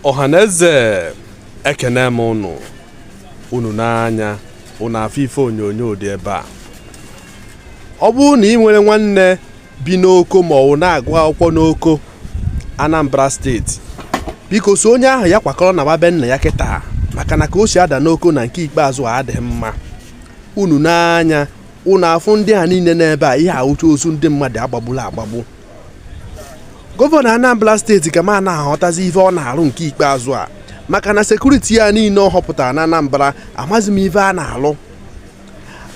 ọhaneze ekenee m ụnụ unu nee anya ụnụ afụ ife onyonyo dị ebe a ọ bụrụ na i nwere nwanne bi n'oko ma ọ wụ na-agụ akwụkwọ n'oko Anambra steeti biko sị onye ahụ ya kwakọrọ naba be nna ya kịta maka na ka o si ada n'oko na nke ikpeazụ a adịghị mma unu nee anya unu afụ ndị a niile nọ ebe a ihe a wụcha ozu ndị mmadụ a gbagbulu agbagbu gọvanọ anambra steeti ka ma na-aghọtazi ife ọ na-arụ nke ikpeazụ a maka na sekuriti a niile ọ họpụtara na anambra amazi m ife a na-alụ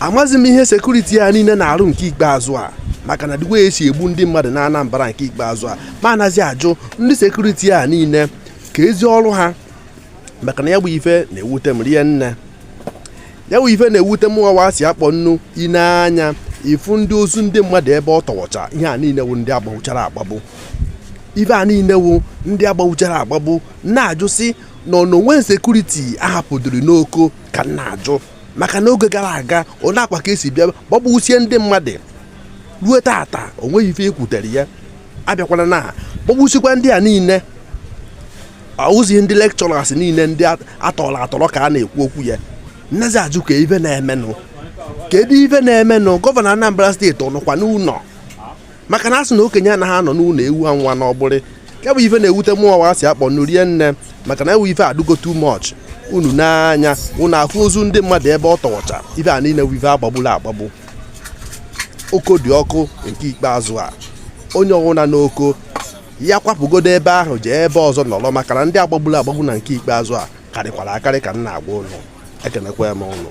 amazi m ihe sekuriti a niile na-arụ nke ikpeazụ a maka na ụdị wa si egbu ndị mmadụ na anambra nke ikpeazụ a mụ anazi ajụ ndị sekuriti a niile keezi ọrụ ha maka na ya bụ ife na-ewute m rie nne ya wụ ife na-ewute mụnwa wa si akpọ nnu i nee anya ị fụ ndị ozu ndị mmadụ ebe ọ tọwọcha ihe a niile wụ ndị a gbagbuchara agbagbu ife a niile wụ ndị a gbagbuchara agbagbu na-ajụ sị na ọ na o nwe sekuriti a hapụdịrị n'oko ka m na-ajụ maka na oge gara aga ọ na-akwa ka e si bịa gbagbusie ndị mmadụ ruo tata o nweghị ife e kwutere ya a bịakwana na gbagbusikwa ndị a niile ahụzi ndị lekchọras niile ndị a tọrọ atọrọ ka a na-ekwu okwu ya m nazi ajụ kee ife na-emenụ kedu ife na-emenụ gọvanọ Anambra steeti ọ nọkwa n'ụlọ maka na a sị na okenye anaghị anọ n'ụlọ ewu amụa n'ọgbụrị ya bụ ife na-ewute mụ wa si akpọ nnu rie nne maka na ya wụ ife adịgo too much unu nee anya unu afụ ozu ndị mmadụ ebe ọ tọwọcha ife a niile wụ ife a gbagburu agbagbu oko dị ọkụ nke ikpeazụ a onye ọwụna n'oko ya kwapụgodo ebe ahụ jee ebe ọzọ nọrọ maka na ndị a gbagburu agbagbu na nke ikpeazụ a karịkwara akarị ka m na-agwa ụnụ ekenekwa m ụnụ